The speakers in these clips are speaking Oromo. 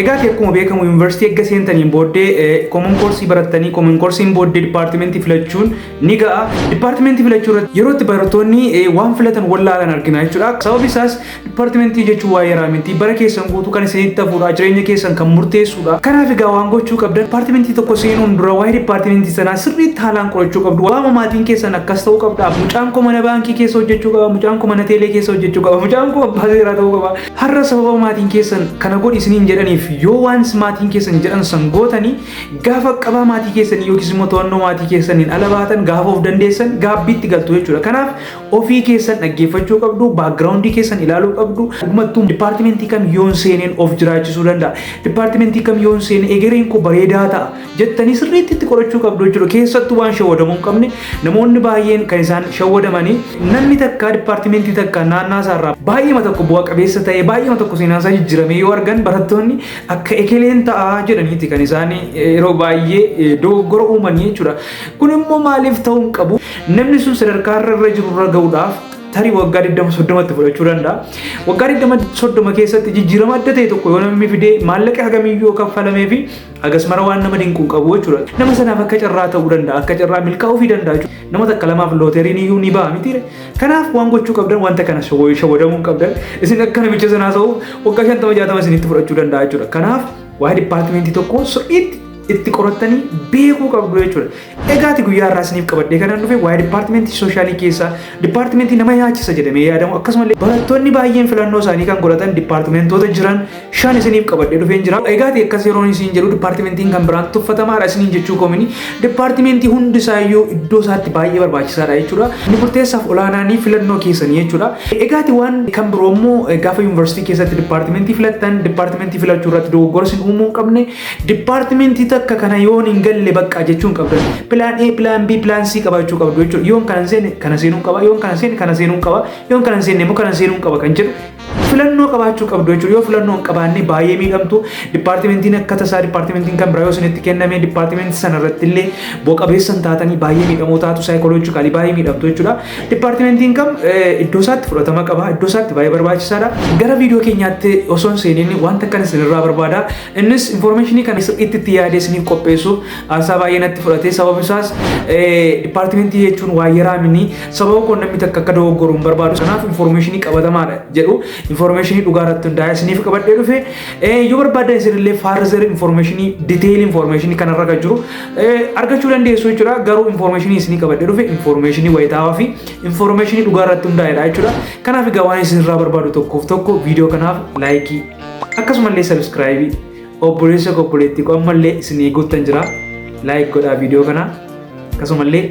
Egaa ati akkuma beekamu yuunivarsiitii erga seentaniin booddee koomon koorsii barattanii koomon koorsiin booddee dipaartimentii filachuun ni ga'a. Dipaartimentii filachuu irratti yeroo itti barattoonni waan filatan wallaalan argina jechuudha. Sababi isaas dipaartimentii jechuun waa'ee yaraa miti. Bara keessan guutuu kan isinitti hafuudha. Jireenya keessan kan murteessuudha. Kanaaf egaa waan gochuu qabdan dipaartimentii tokko seenuun dura waa'ee dipaartimentii sanaa sirriitti haalaan qorachuu qabdu. Waama maatiin keessan akkas ta'uu qabdaaf mucaan koo mana baankii keessa hojjechuu qaba. Mucaan koo mana teelee keessa hojjechuu qaba. Mucaan koo abbaa seeraa ta'uu qaba. Har'a sababa maatiin keessan kana godhi isiniin jedhaniif yoo waan maatiin keessan jedhan san gootanii gaafa qabaa maatii keessanii yookiis immoo to'annoo maatii keessaniin ala baatan gaafa of dandeessan gaabbiitti galtu jechuudha. Kanaaf ofii keessan dhaggeeffachuu qabdu, baakgiraawundii keessan ilaaluu qabdu. Dhugumattuu dipaartimentii kam yoon seeneen of jiraachisuu danda'a. Dipaartimentii kam yoon seene egereen koo bareedaa ta'a. jettanii sirriitti itti qorachuu qabdu jechuudha. Keessattuu waan shawwadamuu hin qabne namoonni baay'een kan isaan shawwadamanii namni takkaa dipaartimentii takkaa naannaa isaarraa baay'eema tokko bu'a qabeessa ta'ee baay'eema tokko seenaan isaa jijjiiramee yoo argan barattoonni akka ekeleen ta'aa jedhaniiti kan isaan yeroo baay'ee dogoggora uumanii jechuudha. Kun immoo maaliif ta'uu hin qabu? Namni sun sadarkaa irra irra jiru irra ga'uudhaaf tarii waggaa 20-30tti fudhachuu danda'a. Waggaa 20-30 keessatti jijjiirama adda ta'e tokko yoo namni fidee maallaqa hagamii yoo kaffalamee fi Hagas mara waan nama dinquun qabu jechuudha. Nama sanaaf akka carraa ta'uu danda'a, akka carraa milkaa'uu fi danda'a jechuudha. Nama takka lamaaf looteriin iyyuu ni ba'a miti. Kanaaf waan gochuu qabdan wanta kana shawwadamuu hin qabdan. Isin akka namicha sanaa ta'uuf waggaa shantama jaatama isinitti fudhachuu danda'a jechuudha. Kanaaf waa'ee dipaartimentii tokkoo sirriitti itti qorattanii beekuu qabdu jechuudha. Egaati guyyaa irraa isiniif qabadhee kanaan dhufe waa'ee dipaartimentii soshaalii keessaa dipaartimentii nama yaachisa jedhamee yaadamu akkasumallee barattoonni baay'een filannoo isaanii kan godhatan dipaartimentoota jiran shan isiniif qabadhee dhufeen jira. Egaati akkas yeroon isiin jedhu dipaartimentiin kan biraan tuffatamaadha isiniin jechuu koomini dipaartimentii hundi isaayyuu iddoo isaatti baay'ee barbaachisaadha jechuudha. Inni murteessaaf olaanaanii filannoo keessanii jechuudha. Egaati waan kan biroo immoo gaafa yuunivarsiitii keessatti dipaartimentii filattan dipaartimentii filachuu irratti dogoggora isin uumuu hin qabne Dipaartimentii takka kana yoon hin galle bakka jechuun qabda. Pilaan A, pilaan B, pilaan C qabaachuu qabdu jechuudha. Yoon kana hin seenne kana seenuun qaba, yoon kana hin seenne kana seenuun qaba, yoon kana hin seenne immoo kana seenuun qaba kan jedhu filannoo qabaachuu qabdu jechuudha. Yoo filannoo hin qabaanne baay'ee miidhamtu. Dipaartimentiin akka tasaa dipaartimentiin kan biraa yoo isinitti kenname dipaartimentii sana irratti illee bu'a-qabeessa hin taatanii baay'ee miidhamoo taatu saayikoloojikaalii baay'ee miidhamtu jechuudha. Dipaartimentiin kam iddoo isaatti fudhatama qaba, iddoo isaatti baay'ee barbaachisaadha. Gara viidiyoo keenyaatti osoo hin seeniin wanta akkan isinirraa barbaada. Innis infoormeeshinii kana sirriitti itti yaadee isiniif qopheessuuf aarsaa baay'ee natti fudhate. Sababni isaas dipaartimentii jechuun waa yaraa mini sababa kun namni takka akka dogoggoru hin barbaadu. Kanaaf infoormeeshinii qabatamaadha jedhu infoormeeshinii dhugaa irratti hundaa'ee isiniif qabadhee dhufe. Yoo barbaadan isinillee faarzar infoormeeshinii diteeyil infoormeeshinii kanarra kan jiru argachuu dandeessu jechuudha. Garuu infoormeeshinii isinii qabadhee dhufe infoormeeshinii wayitaawaa fi infoormeeshinii dhugaa irratti hundaa'edha jechuudha. Kanaaf egaa waan isinirraa barbaadu tokkoof tokko viidiyoo kanaaf laayikii akkasumallee sabiskiraayibii obboleessa koo obboleettii koo ammallee isin eeguuttan jira laayik godhaa viidiyoo kana akkasumallee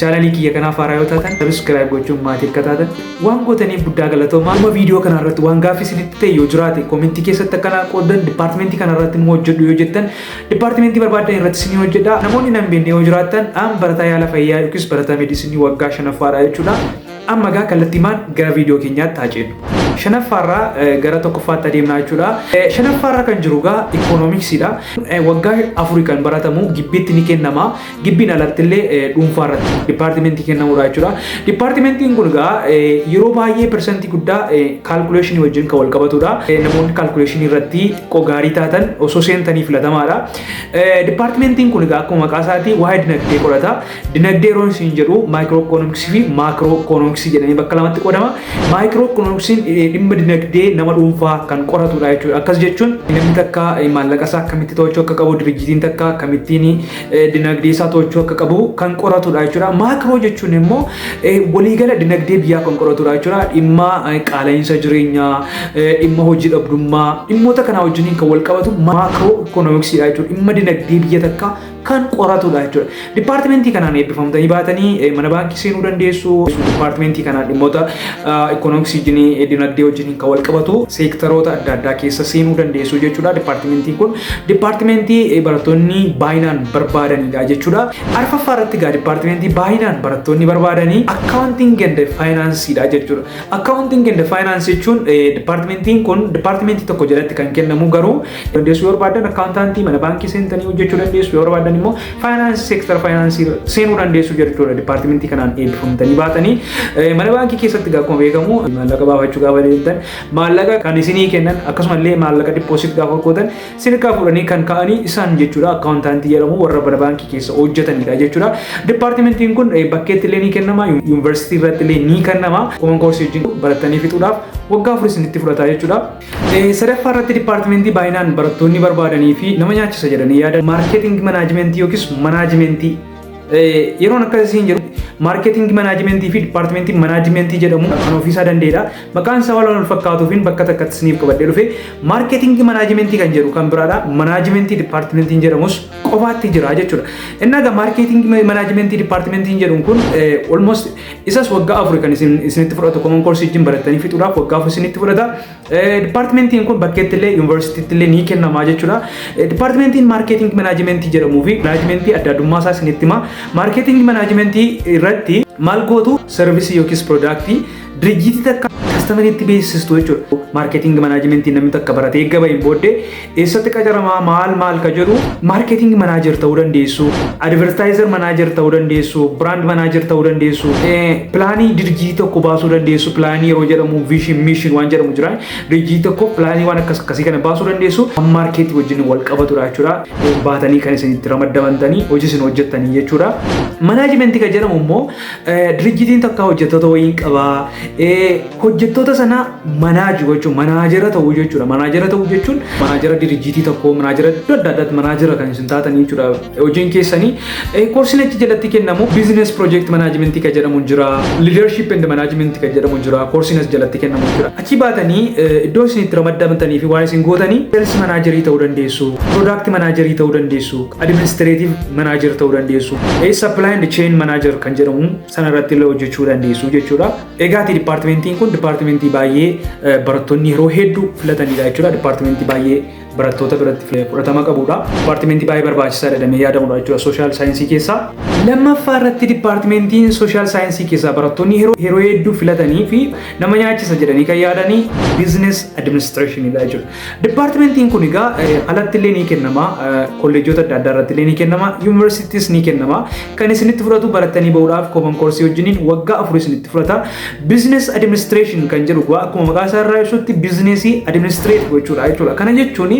chaanalii kiyya kanaaf haaraa yoo taatan sabiskiraayib gochuun maatii akka taatan waan gootaniif guddaa galatoomaa amma viidiyoo kana irratti waan gaaffii isinitti ta'e yoo jiraate koomentii keessatti akkanaa qoodan dipaartimentii kana irratti nu hojjedhu yoo jettan dipaartimentii barbaadan irratti isin hojjedha namoonni nan beekne yoo jiraattan an barataa yaala fayyaa yookiis barataa meedisinii waggaa shanaffaadha jechuudha Amma egaa kallattiimaan gara viidiyoo keenyaatti haa ceenu. Shanaffaarraa gara tokkoffaatti adeemnaa jechuudha. Shanaffaarra kan jiru egaa ikoonomiksiidha. Waggaa afurii kan baratamu gibbiitti ni kennama. Gibbiin alatti illee dhuunfaarratti dipaartimentii kennamudha jechuudha. Dipaartimentiin kun egaa yeroo baay'ee persentii guddaa kaalkuleeshinii wajjin kan wal qabatudha. Namoonni kaalkuleeshinii irratti xiqqoo gaarii taatan osoo seentanii filatamaadha. Dipaartimentiin kun egaa akkuma maqaa isaatii waa'ee dinagdee qorata. Dinagdee yeroon isin jedhu maayikirookoonoomiksii fi maakirookoonoomiksii jedhanii bakka lamatti qoodama. Maayikirookoonoomiksiin dhimma dinagdee nama dhuunfaa kan qoratudha jechuudha. Akkas jechuun namni takka maallaqa isaa akkamitti to'achuu akka qabu, dirijjitiin takka akkamittiin dinagdee isaa to'achuu akka qabu kan qoratudha jechuudha. Maakiroo jechuun immoo waliigala dinagdee biyyaa kan qoratudha jechuudha. Dhimma qaala'insa jireenyaa, dhimma hojii dhabdummaa, dhimmoota kanaa wajjiniin kan wal qabatu maakirookoonoomiksiidha jechuudha. Dhimma dinagdee biyya takka kan qoratudha jechuudha. Dipaartimentii kanaan eebbifamtanii baatanii eh, mana baankii seenuu dandeessu. Dipaartimentii kanaan dhimmoota ikoonomiksii jinii dinagdee wajjin kan wal qabatu seektaroota adda addaa keessa seenuu dandeessu jechuudha. Dipaartimentiin kun dipaartimentii eh, barattoonni baay'inaan barbaadanidha jechuudha. Arfaffaa irratti egaa dipaartimentii baay'inaan barattoonni barbaadanii akkaawuntiin ganda faayinaansiidha jechuudha. Akkaawuntiin ganda faayinaansii jechuun eh, dipaartimentiin kun dipaartimentii tokko jalatti kan kennamu garuu dandeessu yoo barbaaddan akkaawuntaantii mana baankii seentanii hojjechuu dandeessu yoo barbaaddan immoo faayinaansii seektara faayinaansii seenuu dandeessu jechuudha dipaartimentii kanaan eebbifamtanii baatanii mana baankii keessatti akkuma beekamu maallaqa baafachuu gaafa deemtan maallaqa kan isinii kennan akkasumallee maallaqa dippoosit gaafa gootan sirkaa fuudhanii kan ka'anii isaan jechuudha akkaawuntaantii jedhamu warra mana baankii keessa hojjetanidha jechuudha dipaartimentiin kun bakkeetti illee ni kennama yuunivarsiitii irratti illee ni kennama koman koorsii wajjin baratanii fixuudhaaf waggaa afurii isinitti fudhata jechuudha. Sadaffaa irratti dipaartimentii baay'inaan barattoonni barbaadanii fi nama nyaachisa jedhanii yaadan maarkeeting manaajimentii yookiis manaajimentii yeroon akkas isiin jedhu maarkeeting manaajimentii fi dipaartimentii manaajimentii jedhamu kan ofiisaa danda'edha. Maqaan isaa waan wal fakkaatuufiin bakka takkatti isiniif qabadhee dhufe maarkeeting manaajimentii kan jedhu kan biraadha. Manaajimentii dipaartimentiin jedhamus qofaatti jira jechuudha. Inni egaa maarkeeting manaajimentii dipaartimentiin jedhuun kun olmost Isas waggaa afur kan isin isinitti fudhatu common course wajjin barattanii fixuudhaaf waggaa afur isinitti fudhata. Dipaartimentiin kun bakkeetti illee yuunivarsiitiitti illee ni kennamaa jechuudha. Dipaartimentiin maarkeeting manaajimentii jedhamuu fi manaajimentii adda addummaa isaa isinitti hima. Maarkeeting manaajimentii irratti maal gootu sarvisii yookiis piroodaaktii dirijjiitii takka kastamariitti beeksistu jechuudha. Maarkeeting manaajimentii namni takka baratee gabaa hin booddee Eessatti qacaramaa maal maal ka jedhu marketing manager ta'uu dandeessu, advertiser manager ta'uu dandeessu, brand manager ta'uu dandeessu, pilaanii dirjii tokko baasuu dandeessu, pilaanii yeroo jedhamu vision mission waan jedhamu jira. Dirjii tokko pilaanii waan akkas akkasii kana baasuu dandeessu kan marketii wajjin wal qabatudha jechuudha. Baatanii kan isin itti ramadamantanii hojii isin hojjettanii jechuudha. Manaajimentii kan jedhamu immoo Dirijjitiin takka hojjettoota wayii hin qabaa. Hojjettoota sana manaaji gochuun manaajera ta'uu jechuudha. Manaajera ta'uu jechuun manaajera dirijjitii tokkoo manaajera iddoo adda addaatti manaajera kan isin taatanii jechuudha. Hojiin keessanii koorsiin achi jalatti kennamu biizines piroojeekti manaajimentii kan jedhamu jira. Liidarshiip endi manaajimentii kan jedhamu jira. Koorsiin as jalatti kennamu jira. Achi baatanii iddoo isin itti ramadamtanii fi waan isin gootanii seelsi manaajerii ta'uu dandeessu. Piroodaakti manaajerii ta'uu dandeessu. Administrative Manager ta'uu dandeessu. Supply and Chain Manager kan jedhamu sana irratti illee hojjechuu dandeessu jechuudha. Egaati dipaartimentiin kun dipaartimentii baay'ee barattoonni yeroo hedduu filatanidha jechuudha. Dipaartimentii baay'ee barattoota biratti fudhatama qabudha. Dipaartimentii baay'ee barbaachisaadha jedhamee yaadamudha jechuudha sooshaal saayinsii keessaa. Lammaffaa irratti dipaartimentiin sooshaal saayinsii keessaa barattoonni yeroo hedduu filatanii fi nama nyaachisa jedhanii kan yaadanii biizines adiministireeshiniidha jechuudha. Dipaartimentiin kun egaa alatti illee ni kennama. Kolleejjota adda addaa irratti illee ni kennama. Yuunivarsiitiis ni kennama. Kan isinitti fudhatu barattanii bahuudhaaf kooman koorsii wajjiniin waggaa afur isinitti fudhata. Biizines adiministireeshin kan jedhu egaa akkuma maqaa isaa irraa ibsutti biizineesii adiministireet gochuudha jechuudha. Kana jechuun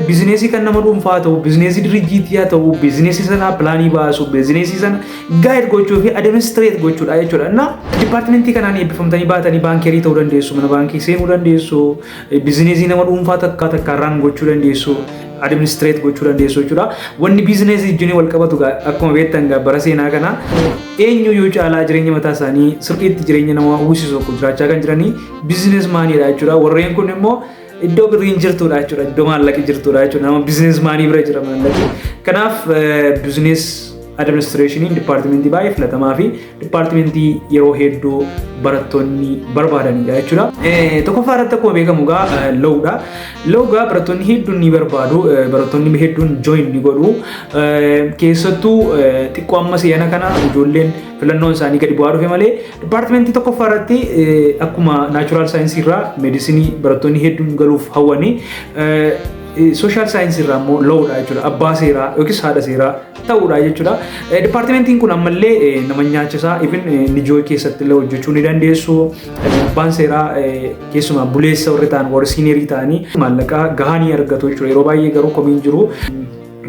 biizineesii kan nama dhuunfaa ta'u, biizineesii dirijjiitii haa ta'u, biizineesii sana pilaanii baasu, biizineesii sana gaayid gochuu fi adiministireet gochuudha jechuudha. Innaa dipaartimentii kanaan eebbifamtanii baatanii baankeerii ta'uu dandeessu, mana baankii seenuu dandeessu, Biizineesii nama dhuunfaa takkaa takkaa raan gochuu dandeessu, administreet gochuu dandeessu jechuudha. Wanni biizineesii wajjin wal qabatu gaa- akkuma beektan gaa bara seenaa kana eenyu yoo caalaa jireenya mataa isaanii sirriitti jireenya nama uwwisisu tokko jiraachaa kan jiranii biizinees maaniidha jechuudha. Warreen kun immoo iddoo birriin jirtudha jechuudha. Iddoo maallaqi jirtudha jechuudha. Nama biizinees maanii bira jira maallaqi. Kanaaf biizinees administreeshiniin dipaartimentii baay'ee filatamaa fi Dipaartimentii yeroo hedduu barattoonni barbaadanidha jechuudha. Tokkoffaa irratti akkuma beekamu gaa loowudha. Loowgaa barattoonni hedduun ni barbaadu. Barattoonni hedduun join ni godhu. Keessattuu xiqqoo amma si'ana kana ijoolleen filannoon isaanii gadi bu'aa dhufe malee dipaartimentii tokkoffaa irratti akkuma naachuraal saayinsii irraa meedisinii barattoonni hedduun galuuf hawwanii sooshaal saayinsii irraa immoo loowudha jechuudha. Abbaa seeraa yookiis haadha seeraa ta'uudha jechuudha. Dipaartimentiin kun ammallee nama nyaachisaa ifin nijooy keessatti illee hojjechuu ni dandeessu. Abbaan seeraa keessumaa buleessa warri ta'an warri siinerii ta'anii maallaqa gahaa ni argatu jechuudha. Yeroo baay'ee garuu komiin jiru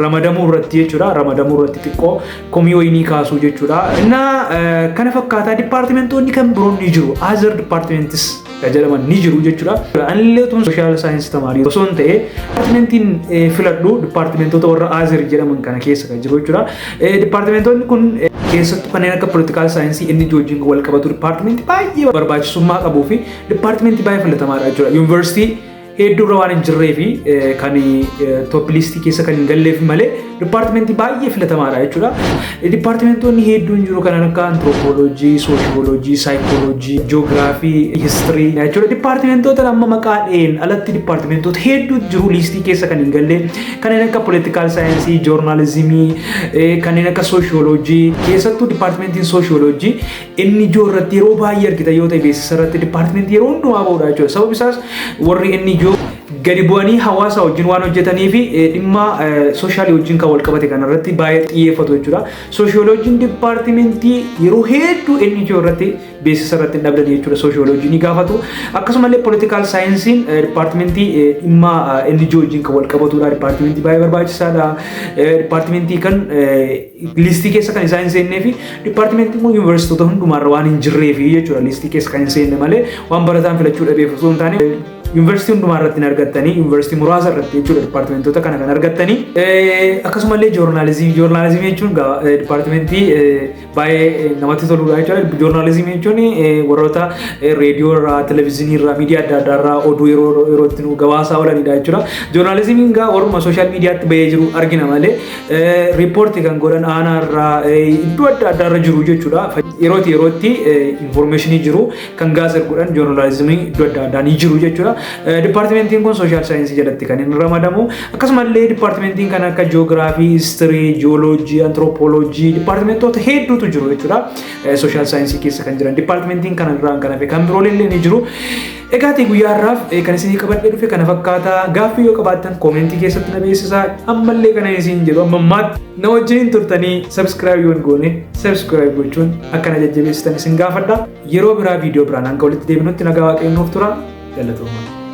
ramadamuu irratti jechuudha. Ramadamuu irratti xiqqoo komii wayii ni kaasuu jechuudha. Innaa kana fakkaataa dipaartimentoonni kan biroon ni jiru. Azar dipaartimentis ka jedhaman ni jiru jechuudha. Anillee tun sooshaal saayinsii tamaarii osoo hin ta'e dipaartimentiin filadhu dipaartimentoota warra Aazir jedhaman kana keessa kan jiru jechuudha. Dipaartimentoonni kun keessattuu kanneen akka poolitikaal saayinsii inni wajjin wal qabatu dipaartimentii baay'ee barbaachisummaa qabuu fi dipaartimentii baay'ee filatamaadha jechuudha. Yuunivarsiitii hedduu irra waan hin jirree fi kan toop liistii keessa kan hin galleef malee dipaartimentii baay'ee filatamaadha jechuudha. Dipaartimentoonni hedduun jiru kan akka antiroopooloojii, sooshiyooloojii, saayikooloojii, ji'oogiraafii, histirii jechuudha. Dipaartimentoota amma maqaa dha'een alatti dipaartimentoota hedduu jiru liistii keessa kan hin galle kanneen akka poolitikaal saayinsii, joornaalizimii, kanneen akka sooshiyooloojii keessattuu dipaartimentiin sooshiyooloojii NGO irratti yeroo baay'ee argitan yoo ta'e beeksisa irratti dipaartimentii yeroo hundumaa ba'uudha jechuudha. Sababni isaas warri NGO gadi bu'anii hawaasa wajjin waan hojjetanii fi eh, dhimma soshaalii wajjin kan wal qabate kana irratti baay'ee xiyyeeffatu jechuudha. Sooshiyooloojiin dipaartimentii yeroo hedduu NGO irratti beeksisa irratti hin dhabdan jechuudha. Sooshiyooloojii ni gaafatu. Akkasumallee poolitikaal saayinsiin eh, dipaartimentii eh, dhimma eh, NGO wajjin kan wal qabatudha. Dipaartimentii baay'ee barbaachisaadha. Eh, Dipaartimentii kan eh, Liistii keessa kan isaa hin seennee fi dipaartimentii immoo yuunivarsiitota hundumaarra waan hin jirree fi jechuudha liistii keessa kan hin seenne malee waan barataan filachuu dhabeef osoo hin taane yuunivarsiitii hundumaa irratti hin argattanii yuunivarsiitii muraasa irratti jechuudha dipaartimentoota kana kan argattanii akkasumallee joornaalizimii joornaalizimii jechuun dipaartimentii baay'ee namatti toludha jechuudha joornaalizimii jechuun warroota reediyoo irraa televezyiinii irraa miidiyaa adda addaa irraa oduu yeroo yerootti nu gabaasaa oolanidha jechuudha joornaalizimiin gaa warruma sooshaal miidiyaatti bahee jiru argina malee riippoorti kan godhan aanaa irraa iddoo adda addaa irra jiru jechuudha. Yerootti yerootti infoormeeshinii jiru kan gaazexaa godhan joornaalizimii iddoo adda addaa ni jiru jechuudha. Dipaartimentiin kun sooshaal saayinsii jalatti kan inni ramadamu. Akkasumallee dipaartimentiin kan akka jiyoogiraafii, histirii, jiyooloojii, antiroopooloojii dipaartimentoota hedduutu jiru jechuudha. Sooshaal saayinsii keessa kan jiran dipaartimentiin kana irraa kan hafe kan biroolee ni jiru. Egaatii guyyaa har'aaf kan isinii qabadhee dhufe kana fakkaata. Gaaffii yoo qabaattan koomentii keessatti na beeksisaa. Ammallee kana isin jedhu amma ammaatti na wajjin turtanii sabskiraayib yoon goone sabskiraayib gochuun akka na jajjabeessitan isin gaafadha. Yeroo biraa viidiyoo biraan hanga walitti deebinutti nagaa waaqayyoon nuuf tura. Galatoomaa.